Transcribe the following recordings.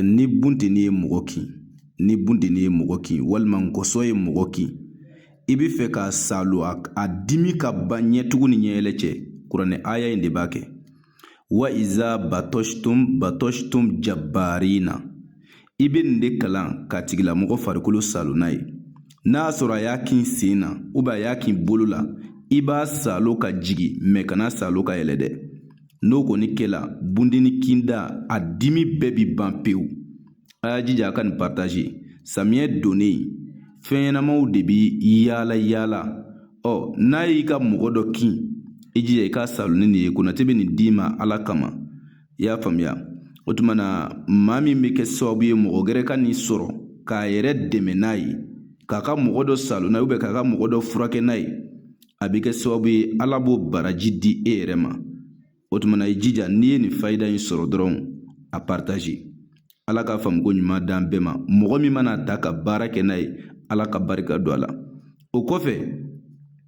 ni bunteni ye mɔgɔ kin ni bunteni ye mɔgɔ kin walima nkɔsɔn ye mɔgɔ kin i bɛ fɛ k'a saalo a dimi ka ban ɲɛ tugu ni ɲɛ yɛlɛ cɛ kuranɛ aya in de b'a kɛ wa iza batɔshtum batɔshtum jabarina i bɛ nin de kalan k'a tigilamɔgɔ farikolo saalo n'a ye n'a y'a sɔrɔ a y'a kin sen na a y'a kin bolo la i b'a saalo ka jigin mɛ kan'a saalo ka yɛlɛ dɛ n'o kɔni kɛla bundeni kinda a dimi bɛɛ bi ban pewu a y'a jija a ka nin partage samiyɛ donnen fɛn ɲɛnamaw de bi yaala yaala ɔ n'a y'i ka mɔgɔ dɔ kin i jija i k'a saalo ni nin ye konate bɛ nin d'i ma ala kama i y'a faamuya o tuma na maa min bɛ kɛ sababu ye mɔgɔ gɛrɛ ka nin sɔrɔ k'a yɛrɛ dɛmɛ n'a ye k'a ka mɔgɔ dɔ saalo n'a ye k'a ka mɔgɔ dɔ furakɛ n'a ye a bɛ kɛ sababu ye ala b'o baraji di e yɛrɛ ma o tuma na i jija n'i ye nin fayida in sɔrɔ dɔrɔn a partage ala ka faamuko ɲuman d'an bɛɛ ma mɔgɔ min man'a ta ka baara kɛ n'a ye ala ka barika don a la o kɔfɛ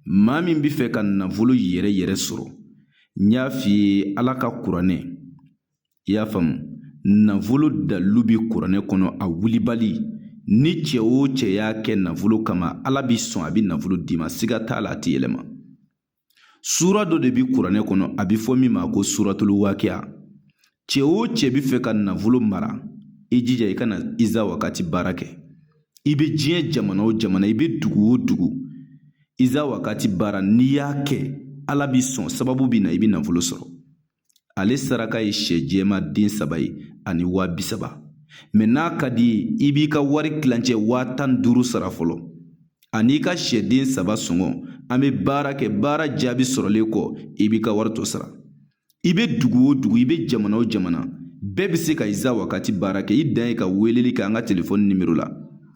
maa min bɛ fɛ ka nafolo yɛrɛ yɛrɛ sɔrɔ n y'a f'i ye ala ka kuranɛ i y'a faamu nafolo dalilu bi kuranɛ kɔnɔ a wulibali ni cɛ o cɛ y'a kɛ nafolo kama ala bi sɔn a bi nafolo d'i ma siga t'a la a ti yɛlɛma sura dɔ de bi kuranɛ kɔnɔ a bi fɔ min ma ko suratulu wakiya cɛ o cɛ bi fɛ ka nafolo mara i jija i ka na iza wakati baara kɛ i bɛ diɲɛ jamana o jamana i bɛ dugu o dugu iza wakati baara n'i y'a kɛ ala bi sɔn sababu bɛ na i bɛ nafolo sɔrɔ ale saraka ye syɛ jɛman den saba ye ani waa bi saba mɛ n'a ka d'i ye i b'i ka wari tilancɛ waa tan ni duuru sara fɔlɔ an'i ka syɛden saba sɔngɔ an bɛ baara kɛ baara jaabi sɔrɔlen kɔ i b'i ka wari tɔ sara i bɛ dugu o dugu i bɛ jamana o jamana bɛɛ bɛ se ka iza wakati baara kɛ i dan ye ka weeleli kɛ an ka telefɔni nimero la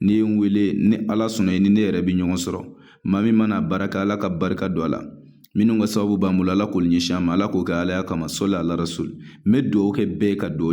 n'i ye n wele ni ala sɔnna i ni ne yɛrɛ bɛ ɲɔgɔn sɔrɔ maa min mana baara kɛ ala ka barika don a la minnu ka sababu b'an bolo ala k'olu ɲɛsin an ma ala k'o kɛ alaya kama sɔli ala rasul n bɛ dugawu kɛ bɛɛ ka dugawu